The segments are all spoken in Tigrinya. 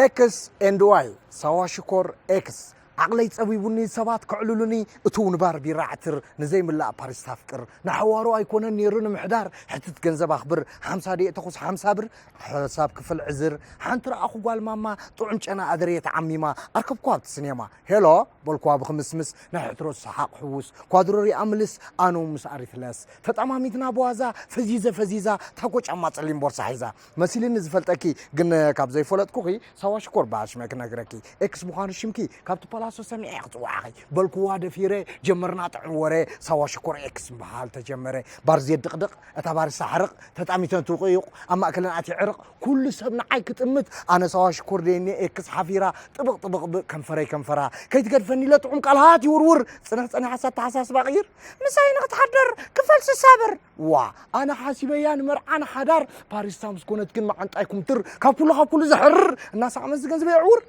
ኤክስ ኤንድ ዋይ ሳዋ ሽኮር ኤክስ ዓቕለይ ጸቢቡኒ ሰባት ከዕልሉኒ እቱ ንባር ቢራ ዓትር ንዘይምላእ ፓሪስ ታፍቅር ንሓዋሩ ኣይኮነን ነይሩ ንምሕዳር ሕትት ገንዘብ ኣኽብር ሓምሳ ደየ ተኹስ ሓምሳ ብር ሓሳብ ክፍል ዕዝር ሓንቲ ረኣኹ ጓል ማማ ጥዑም ጨና ኣደርየ ተዓሚማ ኣርከብኩ ኣብቲ ስኔማ ሄሎ በልኩዋ ብክምስምስ ናይ ሕትሮ ሰሓቕ ሕውስ ኳድሮ ሪኣ ምልስ ኣነ ምስ ኣሪትለስ ተጠማሚትና ብዋዛ ፈዚዘ ፈዚዛ ታኮ ጫማ ጸሊም ቦርሳ ሒዛ መሲልኒ ዝፈልጠኪ ግን ካብ ዘይፈለጥኩኺ ሳዋ ሽኮር በሃል ሽመ ክነግረኪ ኤክስ ምዃኑ ሽምኪ ካብቲ ፓላሶ ሰሚዐ ክጽዋዕኺ በልኩዋ ደፊረ ጀመርና ጥዑም ወረ ሳዋ ሽኮር ኤክስ ምበሃል ተጀመረ ባርዜ ድቕድቕ እታ ባርሳ ሕርቕ ተጣሚተን ትውቕዩቕ ኣብ ማእከለን ኣትየ ዕርቕ ኩሉ ሰብ ንዓይ ክጥምት ኣነ ሳዋ ሽኮር ደየኒ ኤክስ ሓፊራ ጥብቕ ጥብቕ ብ ከንፈረይ ከንፈራ ከይትገድፈኒ ኢለ ጥዑም ቃል ሃት ይውርውር ጽንሕ ጸኒሓስ ኣተሓሳስባ ቅይር ምሳይ ንኽትሓደር ክፈል ስሳ ብር ዋ ኣነ ሓሲበያ ንመርዓ ንሓዳር ባሪስታ ምስ ኮነት ግን መዓንጣይ ኩምትር ካብ ኩሉ ካብ ኩሉ ዘሕርር እናሳዕመስ ዝገንዝበ የዕውር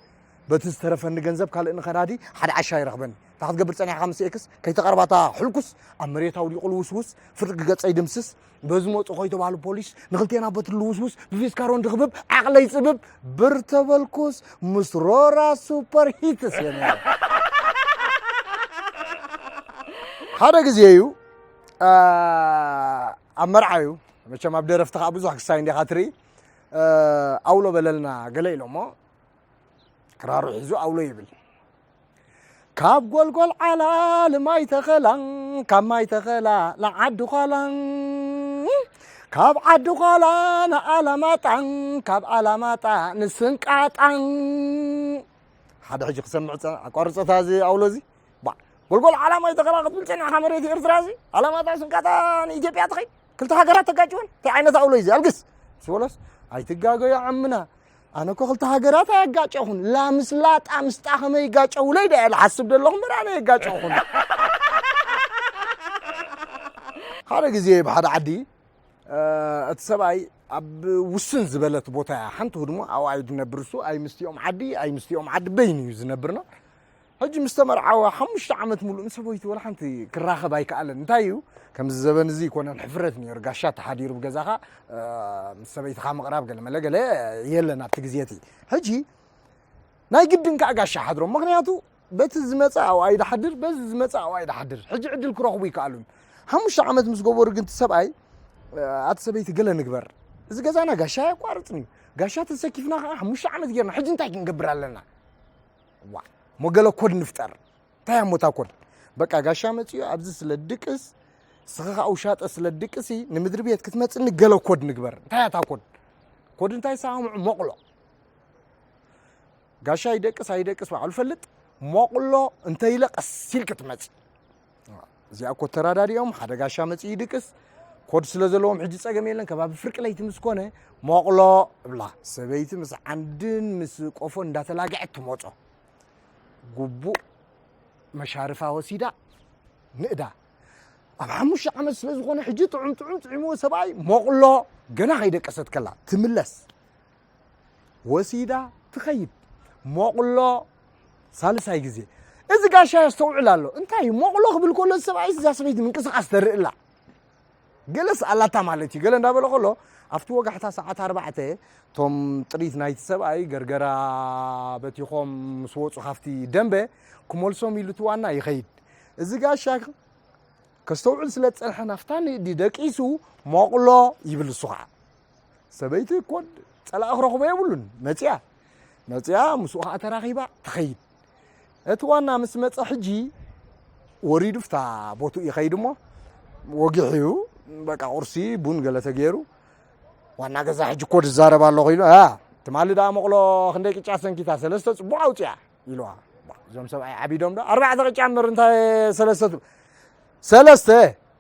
በቲ ዝተረፈኒ ገንዘብ ካልእ ንከናዲ ሓደ ዓሻ ይረኽበኒ። እንታይ ክትገብር ጸኒሕካ ምስ ኤክስ ከይተቐርባ እታ ሕልኩስ ኣብ መሬት ኣውዲቑ ልውስውስ ፍርቂ ገጸይ ድምስስ በዚ መጹ ከይተባህሉ ፖሊስ ንክልቴና በቲ ልውስውስ ብፊስካሮን ድኽብብ ዓቕለይ ጽብብ ብር ተበልኩስ ምስ ሮራ ሱፐር ሂትስ እየ ነይረ። ሓደ ግዜ እዩ ኣብ መርዓ እዩ መቸም ኣብ ደረፍቲ ከዓ ብዙሕ ክሳይ እንዲኻ ትርኢ ኣውሎ በለልና ገለ ኢሎሞ ክራሩ ሒዙ ኣውሎ ይብል ካብ ጎልጎል ዓላ ልማይ ተኸላ ካብ ማይ ተኸላ ንዓዲ ዃላ ካብ ዓዲ ዃላ ንኣላማጣ ካብ ኣላማጣ ንስንቃጣ ሓደ ሕጂ ክሰምዕ ፀ ኣቋርፆታ እዚ ኣውሎ እዚ ጎልጎል ዓላ ማይ ተኸላ ክትብል ፀኒዕካ መሬት ኤርትራ እዚ ኣላማጣ ስንቃጣ ንኢትዮጵያ ትኸይ ክልተ ሃገራት ተጋጭወን እንታይ ዓይነት ኣውሎ እዩ እዚ ኣልግስ ስበሎስ ኣይትጋገዩ ዓምና ኣነ እኮ ክልተ ሃገራት ኣየጋጨኹን ላምስ ላጣ ምስጣ ከመይ ይጋጨውለይ ዳየ ዝሓስብ ዘለኹ እምበር ኣነ የጋጨኹን ሓደ ግዜ ኣብ ሓደ ዓዲ እቲ ሰብኣይ ኣብ ውስን ዝበለት ቦታ እያ ሓንቲ ህድሞ ኣብኣ እዩ ዝነብር እሱ ኣይ ምስቲኦም ዓዲ ኣይ ምስቲኦም ዓዲ በይኑ እዩ ዝነብርና ሕጂ ምስ ተመርዓወ ሓሙሽተ ዓመት ምሉእ ምስ ሰበይቱ ወላ ሓንቲ ክራኸብ ኣይከኣለን። እንታይ እዩ ከምዚ ዘበን እዚ ኣይኮነን ሕፍረት ነይሩ፣ ጋሻ ተሓዲሩ ብገዛኻ ምስ ሰበይትኻ ምቕራብ ገለመለ ገለ የለን ኣብቲ ግዜ እቲ። ሕጂ ናይ ግድን ከዓ ጋሻ ሓድሮም፣ ምክንያቱ በቲ ዝመፀ ኣብኡ ኣይድሓድር፣ በዚ ዝመፀ ኣብኡ ኣይድሓድር። ሕጂ ዕድል ክረኽቡ ኣይከኣሉን። ሓሙሽተ ዓመት ምስ ገበሩ ግን እቲ ሰብኣይ ኣቲ ሰበይቲ ገለ ንግበር፣ እዚ ገዛና ጋሻ ኣየቋርፅን እዩ፣ ጋሻ ተሰኪፍና ከዓ ሓሙሽተ ዓመት ጌርና፣ ሕጂ እንታይ ክንገብር ኣለና? ዋእ እሞ ገለ ኮድ ንፍጠር። እንታይ እያ እሞ እታ ኮድ? በቃ ጋሻ መጺኡ ኣብዚ ስለ ድቅስ ስኺ ከዓ ውሻጠ ስለ ድቅሲ ንምድሪ ቤት ክትመጽኒ ገለ ኮድ ንግበር። እንታይ እያ እታ ኮድ? ኮድ እንታይ ሰማምዑ ሞቕሎ ጋሻ ይደቅስ ኣይደቅስ ባዕሉ ፈልጥ ሞቕሎ እንተይለ ቀስ ኢልኪ ትመጺ እዚኣ እኮ ተራዳዲኦም ሓደ ጋሻ መፅኡ ይድቅስ ኮድ ስለ ዘለዎም ሕጂ ፀገም የለን ከባቢ ፍርቂ ለይቲ ምስ ኮነ ሞቕሎ እብላ ሰበይቲ ምስ ዓንድን ምስ ቆፎ እንዳተላግዐት ትሞፆ ጉቡእ መሻርፋ ወሲዳ ንእዳ ኣብ ሓሙሽተ ዓመት ስለ ዝኾነ ሕጂ ጥዑም ጥዑም ጥዒምዎ ሰብኣይ ሞቕሎ ገና ከይደቀሰት ከላ ትምለስ ወሲዳ ትኸይድ ሞቕሎ ሳልሳይ ግዜ እዚ ጋሻ የስተውዕል ኣሎ እንታይ ሞቕሎ ክብል ከሎ ሰብኣይ እዛ ሰበይቲ ምንቅስቃስ ተርኢ ኣላ ገለስ ኣላታ ማለት እዩ ገለ እንዳበለ ከሎ ኣብቲ ወጋሕታ ሰዓት ኣርባዕተ እቶም ጥሪት ናይቲ ሰብኣይ ገርገራ በቲኾም ምስ ወፁ ካብቲ ደንበ ክመልሶም ኢሉ እቲ ዋና ይኸይድ እዚ ጋሻ ከስተውዕል ስለ ዝፀንሐ ናፍታ ንእዲ ደቂሱ ሞቕሎ ይብል እሱ ከዓ ሰበይቲ ኮድ ጸላእ ክረኽቦ የብሉን መጽያ መጽያ ምስኡ ከዓ ተራኺባ ትኸይድ እቲ ዋና ምስ መፀ ሕጂ ወሪዱ ፍታ ቦቱ ይኸይድ እሞ ወጊሕ እዩ በቃ ቁርሲ ቡን ገለ ተገይሩ ዋና ገዛ ሕጂ እኮ ዝዛረብ ኣሎ ኮይኑ ትማሊ ደኣ መቕሎ ክንደይ ቅጫ ሰንኪታ ሰለስተ ፅቡቕ ኣውፅያ ኢልዋ ባእ እዞም ሰብኣይ ዓቢዶም ዶ ኣርባዕተ ቅጫ እምበር እንታይ ሰለስተ ትብ ሰለስተ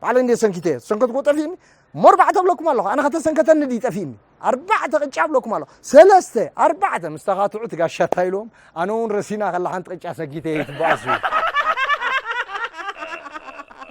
ባዕለ እንዴ ሰንኪተ እየ ሰንከትኩ ጠፊእኒ እሞ ኣርባዕተ ብለኩም ኣለኹ ኣነ ከተሰንከተኒ ድዩ ጠፊእኒ ኣርባዕተ ቅጫ ብለኩም ኣለኹ ሰለስተ ኣርባዕተ ምስ ተኻትዑ ትጋሻታ ኢልዎም ኣነ እውን ረሲና ከላ ሓንቲ ቅጫ ሰጊተ እየ ትበኣሱ